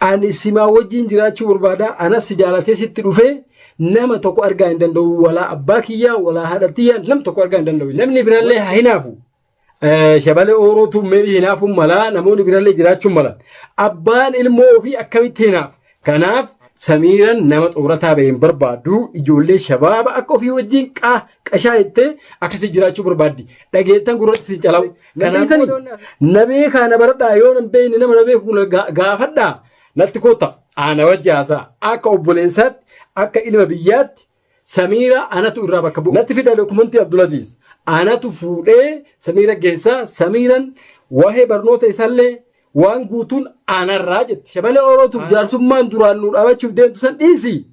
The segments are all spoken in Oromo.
Ani simaa wajjin jiraachuu barbaada, anas si jaalatee sitti dhufee nama tokko argaa hin danda'u, walaa abbaa kiyyaa, walaa haadha tiyyaa nam tokko argaa hin danda'u. Namni birallee haa hinaafu. Eh, Shabalee oorootu meebii hinaafuun malaa, namoonni birallee jiraachuun malan. Abbaan ilmoo ofii akkamitti hinaaf? Kanaaf Samiiran nama xumurataa ba'e hin barbaadu, ijoollee shabaaba akka ofii wajjin qaa qashaa jettee akkasii jiraachuu barbaaddi. Dhageettan gurratti si calawu. Na Kanaan beektanii? booda wanni hafe- Na beekaa na baradhaa yoo nan beekne nama na beeku na ga- gaafadhaa natti kottaa ana wajji haasaa akka obboleessaatti akka ilma biyyaatti Samiira anatu irraa bakka bu'u. Natti fidaa dokumentii Abdulaziz. Anatu fuudhee Samiira geessaa Samiiran waa'ee barnoota isaallee Waan guutuun anarraa jetti. Shabalee Oro tun jaarsummaan duraan nu dhaabachuuf deemtu san dhiisi.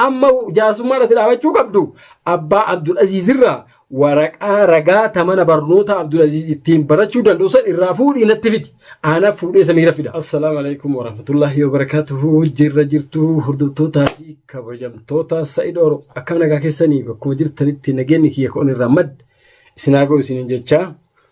Amma jaarsummaan ati dhaabachuu qabdu abbaa Abdul Aziz irraa waraqaa ragaa ta mana barnootaa Abdul Aziz ittiin barachuu danda'u san irraa fuudhii natti fidi. Aanaaf fuudhee samiira fida. Assalaamu alaikum warahmatullaahi wabarakaatuhu jirra jirtu hordoftootaa fi kabajamtoota Sa'id Oro akkam nagaa keessanii bakkuma jirtanitti nageenyi kiyya koon irraa madda isin haa ga'u isiniin jechaa.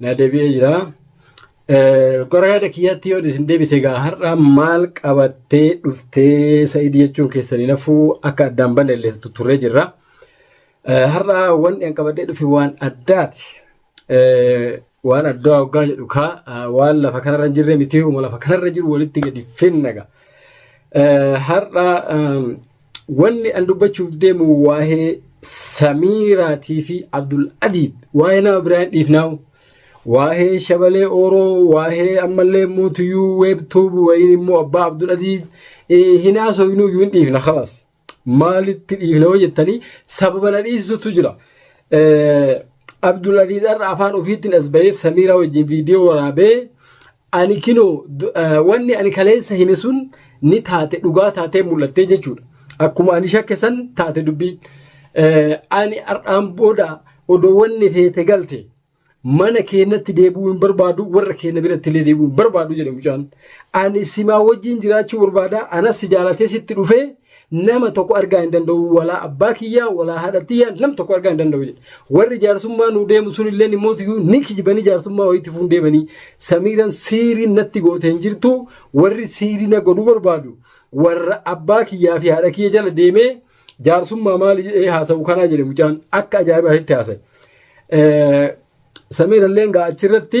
na deebi'ee jira. Gara yaada kiyyaatti yoo isin deebise egaa har'a maal qabattee dhuftee sa'id jechuun keessanii nafuu akka addaan balleellee turree jirra. Har'a wanti an qabadhee dhufe waan addaati. Waan addaa hoggaa jedhu kaa waan lafa kanarra hin jirre miti lafa kanarra jiru walitti gadi finnaga. Har'a Wanni an dubbachuuf deemu waa'ee Samiiraatii fi Abdul Adiib waa'ee nama biraa hin dhiifnaawu. Waa'ee Shabalee Ooroo, waa'ee ammallee immoo Tuyyuu Weebtuub wayiin immoo Abbaa Abdul Adiib eh, hin haasoynu iyyuu hin dhiifna kalas. Maalitti dhiifna yoo jettanii sababa na dhiisutu jira. Eh, Abdul Adiib har'a afaan ofiitiin as bahee Samiiraa wajjin viidiyoo waraabee Ani kinoo du- eh, wanni ani kaleessa hime sun ni taate dhugaa taatee mul'attee jechuudha. Akkuma ani shakke san taate dubbii. Eh, Ani har'aan booda odoo wanni feete galte mana keenyatti deebi'uu hin barbaadu warra keenya biratti illee deebi'uu hin barbaadu jedhe mucaan. Ani simaa wajjin jiraachuu barbaada anas si jaalatee sitti dhufee Nama tokko argaa hin danda'u walaa abbaa kiyyaa walaa haadha tiyyaa nam tokko argaa hin danda'u jedhe. Warri jaarsummaa nuu deemu sun illee immoo iyyuu ni kijibanii jaarsummaa wayiitti fuun deemanii samiiran siirii natti goote hin jirtu warri siirii na godhuu barbaadu warra abbaa kiyyaa fi haadha kiyya jala deemee jaarsummaa maali jedhee haasa'u kanaa jedhe mucaan akka ajaa'ibaatti haasa'e. Eh, Samiirallee egaa achirratti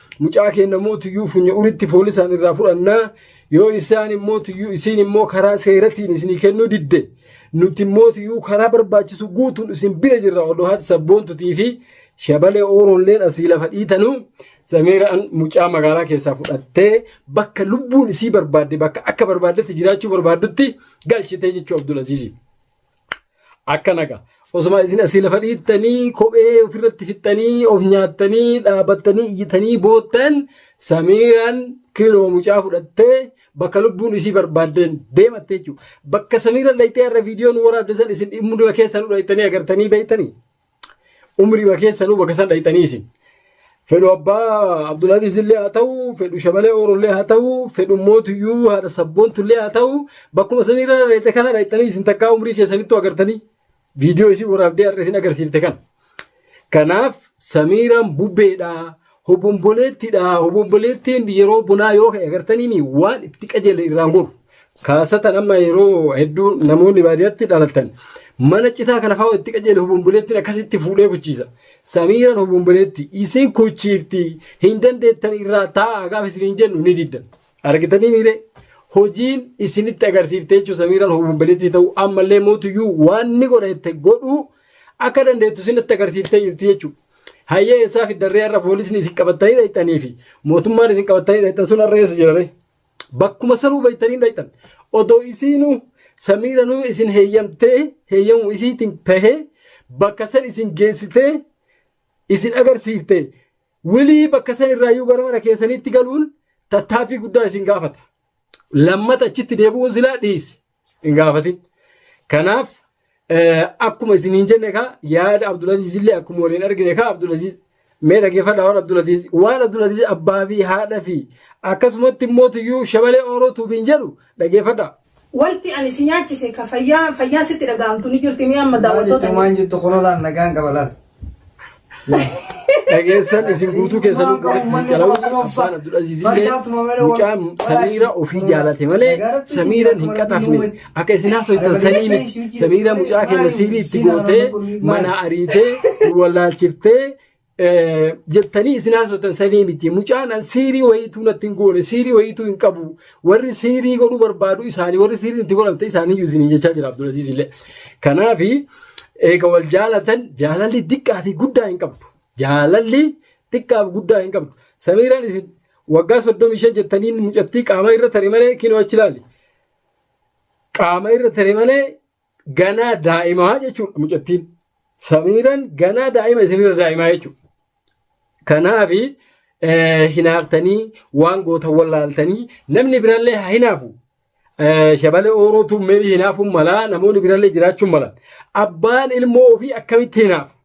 mucaa keenya immoo tuyyuu funya uritti poolisaan irraa fudhannaa yoo isaan immoo tuyyuu isiin immoo karaa seeratiin isinii kennuu didde nuti immoo tuyyuu karaa barbaachisu guutuun isin bira jirra odoo haati sabboontutii fi shabalee ooroolleen asii lafa dhiitanuu samiiraan mucaa magaalaa keessaa fudhattee bakka lubbuun isii barbaadde bakka akka barbaaddetti jiraachuu barbaaddutti galchitee jechuu Abdul Aziizii. Akkana gaa. Osuma isin asii lafa dhiittanii kophee ofirratti fixxanii of nyaattanii dhaabattanii iyyitanii boottan samiiraan kiinuma mucaa fudhattee bakka lubbuun isii barbaaddeen deematte jechuudha. Bakka samiiraan dhayxee har'a viidiyoon waraabde san isin dhimma keessan dhayxanii agartanii beektanii. Umriima keessanuu bakka san dhayxanii isin. Fedhu abbaa Abdulaziz illee haa ta'u, fedhu shabalee Oro illee haa ta'u, fedhu mootuyyuu haadha sabboontu illee haa ta'u, bakkuma san irra dhayxe kana dhayxanii isin takkaa umrii keessanittuu agartanii. Viidiyoo isin waraabdee har'a isin agarsiifte kana. Kanaaf Samiiraan bubbeedha. Hobomboleettiidha. Hobomboleettiin yeroo bonaa yoo ka'e agartaniimi waan itti qajeele irraan goru. Kaasatan amma yeroo hedduu namoonni baadiyyaatti dhalatan mana citaa kana fa'aa itti qajeele hobomboleettiin akkasitti fuudhee kuchiisa. Samiiraan hobomboleetti isin kuchiifti hin dandeettan irraa taa'aa gaafa isin hin jennu ni diddan. Argitanii miiree hojiin isinitti agarsiifte jechuun samiiraan hobomboleettii ta'uu ammallee mootuyyuu waan ni godhette godhuu akka dandeettu isinitti agarsiiftee jirti jechuudha. Hayyee eessaa fiddarree har'a poolisni isin qabattanii dhaqxanii fi mootummaan isin qabattanii dhaqxan sun har'a eessa jirare? Bakkuma sanuu beektanii dhaqxan. Odoo isiinuu samiiranuu isin heeyyamtee heeyyamu isiitiin tahee bakka san isin geessitee isin agarsiiftee wilii bakka san irraayyuu gara mana keessaniitti galuun tattaaffii guddaa isin gaafata. Lammata achitti deebi'uun silaa dhiisi. hin gaafatin. Kanaaf akkuma isiniin jenne kaa yaada Abdulaziz illee akkuma waliin argine kaa Abdulaziz mee dhaggeeffadha waan Abdulaziz waan Abdulaziz abbaa fi haadha fi akkasumatti immoo tuyyuu shabalee ooroo tuubiin jedhu dhaggeeffadha. Wanti ani si nyaachise ka fayyaa fayyaa sitti dhaga'amtu ni jirti mee amma daawwattoota. Maal jettu kunulaan nagaan qaba laal. dhageessan isin guutuu keessan abbaan abdulaziizillee mucaa samiira ofii jaalate malee samiiran hin qaxafne akka isin haasoytan sanii miti samiira mucaa keenya siilii itti gootee manaa ariitee wallaalchiftee jettanii isin haasoytan sanii miti mucaan an siirii wayiituu natti hin goone siirii wayiituu hin qabu Warri siirii godhuu barbaadu isaanii warri siiriin itti godhamte isaaniiyyuu isiniin jechaa jira Abdulaziz illee. Kanaaf eega wal jaalatan jaalalli xiqqaa fi guddaa hin qabdu. Jaalalli xiqqaa fi guddaa hin qabdu. Samiiraan isin waggaa soddomii shan jettanii mucattii qaama irra tare malee kinoo achi ilaali. Qaama irra tare malee ganaa daa'imaa jechuudha mucattiin. Samiiran ganaa daa'ima isinirra daa'imaa jechuudha. Kanaaf hinaaftanii waan gootan wallaaltanii namni birallee haa hinaafu. Shabalee oorootu meebii hinaafuun malaa namoonni birallee jiraachuun malan. Abbaan ilmoo ofii akkamitti hinaafu?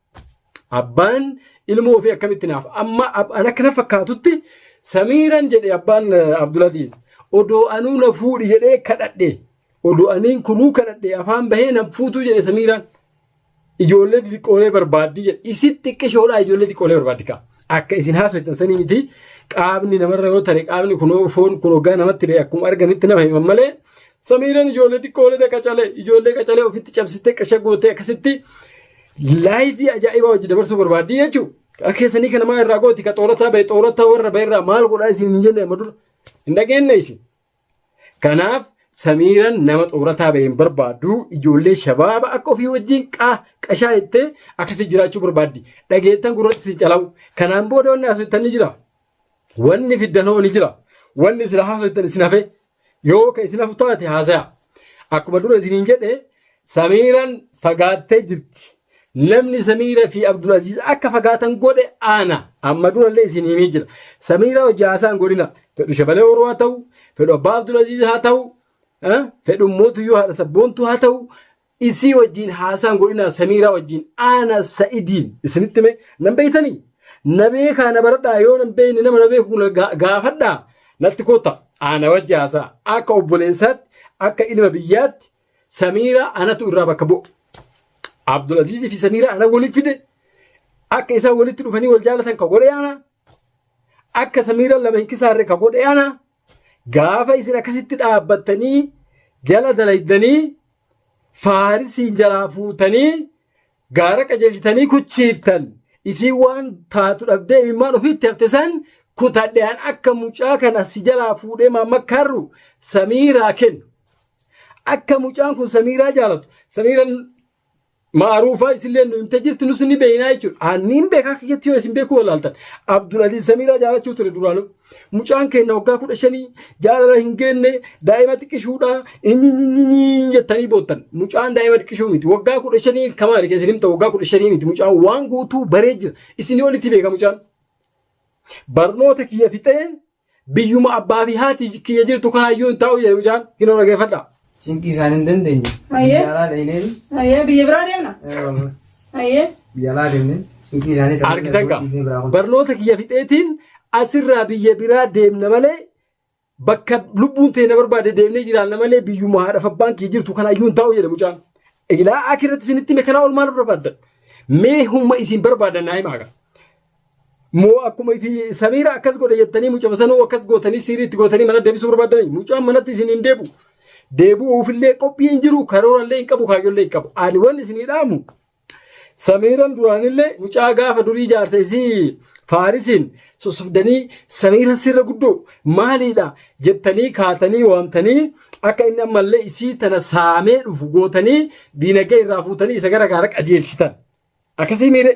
Abbaan ilmoo ofii akkamitti hinaafu? Amma an akka na fakkaatutti samiiran jedhe abbaan Abdulaziz. Odoo anuu na fuudhi jedhee kadhadhe. Odoo aniin kunuu kadhadhe afaan bahee nan fuutuu jedhe Samiiraan. Ijoollee xixiqqoolee barbaaddi jedhe. Isin xiqqishoodhaa ijoollee xiqqoolee barbaaddi kaa. Akka isin haasoftan sanii miti qaamni namarra yoo tare qaamni kun foon kun hoggaa namatti ba'e akkuma arganitti nama himan malee Samiiraan ijoollee xiqqoolee qacalee ijoollee qacalee ofitti cabsitee qasha gootee akkasitti laayifii ajaa'ibaa hojii dabarsuu barbaaddi jechuudha. Akka keessanii kana maa irraa gooti ka xoorataa ba'e xoorataa warra ba'e irraa maal godhaa isin hin jenne amma dura hin dhageenye isin. Kanaaf Samiiran nama xoorataa bahe hin barbaaddu ijoollee shabaaba akka ofii wajjin qaa qashaa jettee akkasii jiraachuu barbaaddi. Dhageettan gurratti si calawu. Kanaan booda wanni haasoftan ni jira. Wanni fiddan hoo ni jira. Wanni sila haasoftan isin hafe yoo ka isin hafu taate haasaya. Akkuma dura isiniin jedhe Samiiran fagaattee jirti. Namni Samiira fi Abdulaziz akka fagaatan godhe ana. Amma durallee isin himee jira. Samiira hojii haasaan godhina. Fedhu shabalee horuu haa ta'u, fedhu abbaa Abdulaziz haa ta'u, eh, fedhu mootuyyuu haadha sabboontuu haa ta'u, isii wajjin haasaan godhina Samiira wajjin ana sa'idiin isinitti mee nan beeytanii? Na beekaa na baradhaa yoo nan beeyne nama na beeku na ga- gaafadhaa natti kotta ana wajji haasaa akka obboleessaatti akka ilma biyyaatti Samiiraa anatu irraa bakka bu'a. Abdulaziz fi Samiiraa ana walitti fide akka isaan walitti dhufanii wal jaalatan ka godhe ana akka Samiiraa lama hin kisaarre ka godhe ana gaafa isin akkasitti dhaabbattanii jala dalaydanii faarisiin jalaa fuutanii Gaara qajeelchitanii kuchiiftan isiin waan taatu dhabdee imimmaan ofiitti hafte san kutadhean akka mucaa kana si jalaa fuudhee maammakkaarru samiiraa kennu. Akka mucaan kun samiiraa jaalatu samiiran maaruufaa isillee nu himte jirti nus ni beeynaa jechuudha. Anniin beekaa kiyyatti yoo isin beekuu walaaltan Abdul Aziz samiiraa jaalachuu ture duraanuu. Mucaan keenya waggaa kudha shanii jaalala hin geenne daa'ima xiqqishuudha inni jettanii boottan. Mucaan daa'ima xiqqishuu miti. Waggaa kudha shanii kamaali kan isin himta waggaa kudha shanii miti. Mucaan waan guutuu baree jira. Isinii olitti beeka mucaan. Barnoota kiyya fixee biyyuma abbaa fi haati kiyya jirtu kanaayyuu hin taa'u jedhe mucaan hin dhaggeeffadha. Cinqii isaan hin dandeenye. Mayyee. Biyya alaa dhaqnee Mayyee biyya biraa deemna. Mayyee. biyya alaa deemnee cinqii isaanii ta'uu Argitan gaa dhiifnee biraa kun. barnoota kiyya fixeetiin asirraa biyya biraa deemna malee bakka lubbuun ta'e na barbaade deemnee jiraanna malee biyyuma haadha fi abbaan kiyya jirtu kana iyyuu hin taa'u jedhe mucaan. Ilaa akirratti isinitti hime kanaa ol maal barbaaddan? Mee humna isin barbaadan naa himaa gaa. moo akkuma iti samiira akkas godhe jettanii mucama sanuu akkas gootanii siirii itti gootanii mana deebisuu barbaadanii mucaan manatti isin hin deebu deebi'uufillee qophii hin jiru karoorallee hin qabu kaayyollee hin qabu ani wanni isin hidhaamu samiiran duraanillee mucaa gaafa durii jaarte isii faarisiin sossobdanii samiiran sirra guddoo maaliidha jettanii kaatanii waamtanii akka inni ammallee isii tana saamee dhufu gootanii diinagdee irraa fuutanii isa gara gaara qajeelchitan Akkasii miire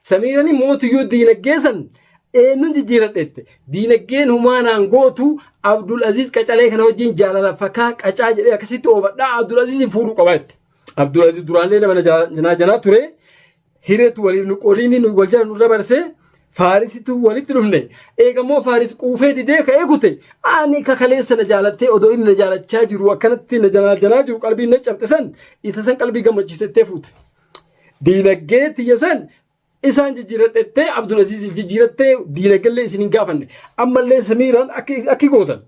Samiirani mootuyyuu diinaggee san eenyuun jijjiiradheette diinaggeen humaanaan gootu Abdul Aziz qacalee kana wajjin jaalala fakaa qacaa jedhee akkasitti oofadhaa Abdul Aziziin fuudhuu qabaa jette. Abdul Aziz duraallee nama janaa janaa ture hireetu waliif nu qoriini nu wal jala nu dabarsee faarisitu walitti dhufne eegammoo faaris quufee didee ka'ee kute ani kakaleessa na jaalattee odoo inni na jaalachaa jiru akkanatti na janaa janaa jiru qalbiin na cabxisan isa san qalbii gammachiisettee fuute. Diinagdee tiyya san isaan jijjiiradhettee Abdul Aziz jijjiirattee diinagdee isin hin gaafanne. Ammallee Samiiraan akki gootan.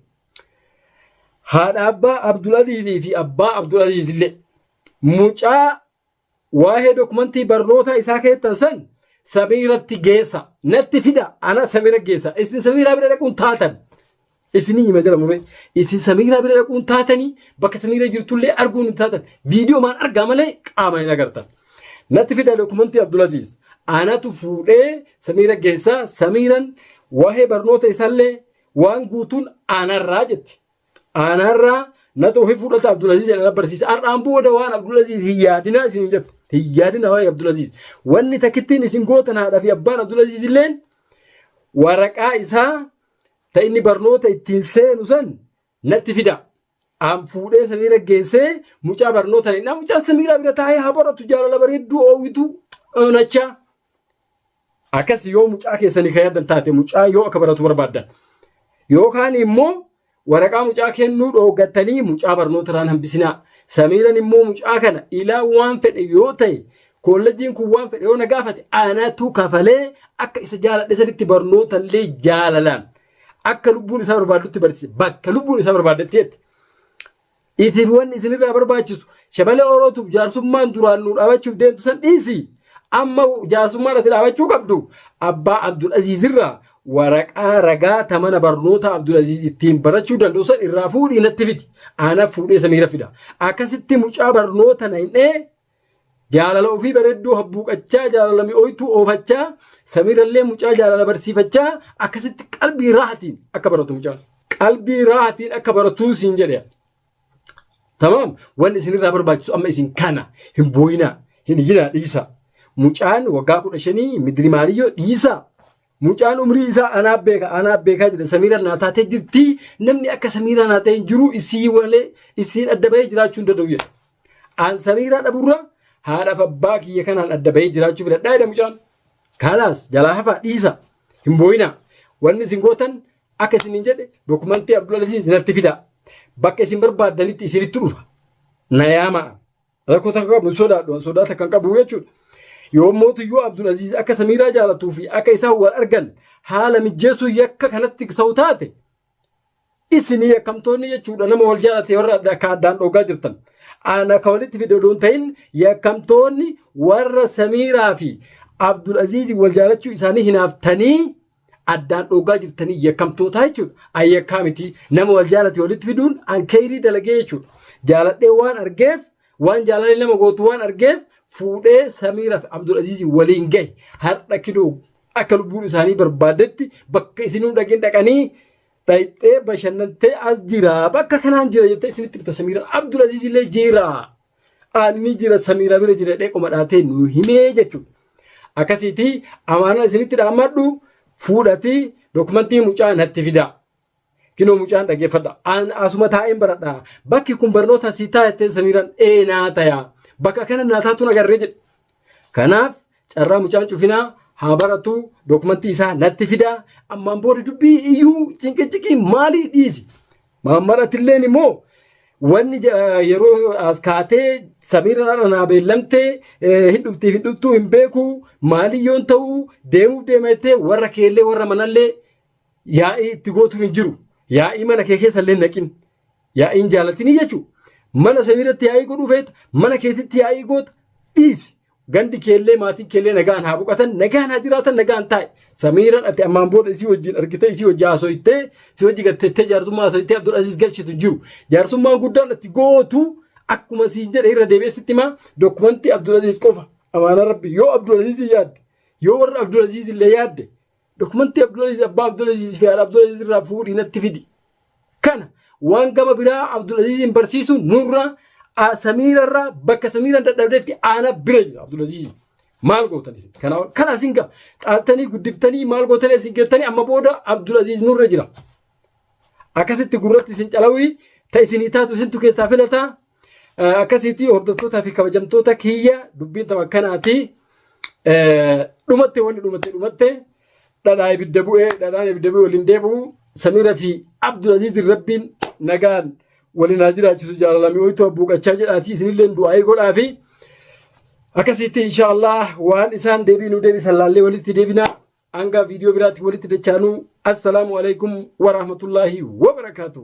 Haadha abbaa Abdul Azizii fi abbaa Abdul Aziz illee mucaa waa'ee dokumentii barnootaa isaa keessan san Samiiratti geessa. Natti fida ana Samiira geessa. Isin Samiiraa bira dhaquun taatan. Isinii hima jira muree. Isin Samiiraa bira dhaquun taatanii bakka Samiiraa jirtullee arguun hin taatan. Viidiyoo maan argaa malee qaamaan hin agartan. Natti fidaa dokumentii Abdulaziz. Anatu fuudhee Samiira geessaa Samiiran waa'ee barnoota isaallee waan guutuun aanarraa jetti. Aanarraa natu ofii fuudhata Abdulaziz jedhan na barsiisa. Har'aan booda waan Abdulaziz hin yaadinaa isin hin jettu. Hin yaadinaa waa'ee Abdulaziz. Wanni takkittiin isin gootan haadhaa fi abbaan Abdulaziz illeen waraqaa isaa ta inni barnoota ittiin seenu san natti fidaa. Aan fuudhee samiira geessee mucaa barnoota hin mucaa samiiraa bira taa'ee haa baratu jaalala bareedduu oowwituu onachaa. Akkas yoo mucaa keessanii kan yaadan taate mucaa yoo akka baratu barbaaddan. Yookaan immoo waraqaa mucaa kennuu dhooggattanii mucaa barnoota irraan hambisinaa. Samiiran immoo mucaa kana ilaa waan fedhe yoo ta'e Koolleejjiin kun waan fedhe yoo na gaafate anaatu kafalee akka isa jaaladhe sanitti barnoota illee jaalalaan akka lubbuun isaa barbaadutti barsiise bakka lubbuun isaa barbaaddetti jette. Isin wanni isinirraa barbaachisu shabalee orootuuf jaarsummaan duraan nu dhaabachuuf deemtu san dhiisi. Amma jaarsummaan ati dhaabachuu qabdu abbaa Abdul Aziz irraa waraqaa ragaa ta mana barnoota Abdul Aziz ittiin barachuu danda'u san irraa fuudhii natti fidi. Anaaf fuudhee samiira fida. Akkasitti mucaa barnoota na hin dhee Jaalala ofii bareedduu habbuuqachaa jaalala mi'ooytuu oofachaa samiirallee mucaa jaalala barsiifachaa akkasitti qalbii raahatiin akka baratu mucaan. Qalbii raahatiin akka baratuu siin jedhe. Tamaam wanni isinirraa barbaachisu amma isin kana hin booyinaa hin iyyinaa dhiisaa. Mucaan waggaa kudha shanii midirimaaniyyoo dhiisaa. Mucaan umrii isaa anaa beeka anaa beekaa jedha samiiraan naa taatee jirti namni akka samiiraa naa ta'e hin jiru isii walee isiin adda bahee jiraachuu hin danda'u jedha. Aan samiiraa dhaburra haadhaaf abbaa kiyya kanaan adda bahee jiraachuu filadhaa jedha mucaan. Kaalaas jalaa hafaa dhiisa hin booyinaa wanni isin gootan akka isin hin jedhe dokumentii Abdulaziz natti fidaa bakka isin barbaaddanitti isinitti dhufa na yaamaa. Rakkoo takka qabu hin sodaadhu an sodaa takka hin qabu jechuudha. Yoo mootiyyuu Abdul Aziz akka Samiiraa jaalatuu fi akka isaan wal argan haala mijjeessuu yakka kanatti ta'u taate isinii yakkamtoonni jechuudha nama wal jaalate warra adda- akka addaan dhoogaa jirtan. Aan akka walitti fide odoo hin ta'in yakkamtoonni warra Samiiraa fi Abdul Aziz wal jaalachuu isaanii hinaaftanii addaan dhoogaa jirtanii yakkamtootaa jechuudha. An yakkaa miti nama wal jaalate walitti fiduun an keeyrii dalagee jechuudha. Jaaladhee waan argeef waan jaalalli nama gootu waan argeef fuudhee Samiiraaf Abdul Aziiz waliin gahe har'a kidoo akka lubbuun isaanii barbaaddetti bakka isinuu dhaqin dhaqanii dhayxee bashannantee as jira bakka kanaan jira jettee isinitti bita Samiiraan Abdul Aziiz illee jira. Aanni jira samiira bira jira jedhee qoma dhaabtee nu himee jechuudha. Akkasiitii amaanaa isinitti dhaammadhu fuudhatii dokumentii mucaa natti fidaa. Kinoo mucaan dhaggeeffadha. Aan asuma taa'een baradha. Bakki kun barnoota si taa'ettee samiiraan ee naa tayaa. Bakka kana naa taatuun agarree jedhe. Kanaaf carraa mucaan cufinaa haa baratu dokumentii isaa natti fidaa ammaan booda dubbii iyyuu cinqiciqii maalii dhiisi. Maammarattilleen immoo wanni ja- yeroo as kaatee samiirra naa beellamtee eh, hin dhuftiif hin dhuftuu hin beeku maalii yoon ta'u deemuuf deema jettee warra keellee warra manallee yaa'ii itti gootu hin jiru. Yaa'ii mana kee keessa illee naqin. Yaa'iin jaalatini jechuun mana saniirratti yaa'ii godhuu feeta mana keetitti yaa'ii goota dhiisi. Gandi keellee maatiin keellee nagaan haa boqatan nagaan haa jiraatan nagaan taa'i. Samiiran ati ammaan booda isii wajjin argitee isii wajjin haasoytee si wajji gattettee jaarsummaa haasoytee Abdul Aziz galchitu hin jiru. Jaarsummaan guddaan ati gootu akkuma siin jedhe irra deebi'ee sitti himaa dokumentii Abdul Aziz qofa amaana rabbi yoo Abdul Aziz yaadde yoo warra Abdul Aziz illee yaadde Dokumentii Abdulaziz Abbaa Abdulaziz fi Haadha Abdulaziz irraa fuudhii natti fidi. Kana waan gama biraa Abdulaziziin barsiisu nurraa a- Samiirarraa bakka Samiiraan dadhabdetti aana bira jira Abdulaziz. Maal gootan isin? Kana kana isin gaa dhaaltanii guddiftanii maal gootanii isin geettanii amma booda Abdulaziz nurra jira. Akkasitti gurratti isin calawii ta isinii taatu isintu keessaa filataa Akkasitti hordoftootaa fi kabajamtoota kiyya dubbiin tapha akkanaati. Dhumatte wanni dhumatte dhumatte dhadhaa ibidda bu'ee dhadhaan ibidda bu'ee waliin deebi'u Samiira fi Abdul Aziz Rabbiin nagaan waliin haa jiraachisu jaalalami hoytuu abbuuqachaa jedhaati isinillee du'aayii godhaa fi akkasitti inshaallah waan isaan deebii nu deebisan laallee walitti deebina hanga viidiyoo biraatti walitti dachaanuu assalaamu alaikum warahmatullaahi wabarakaatu.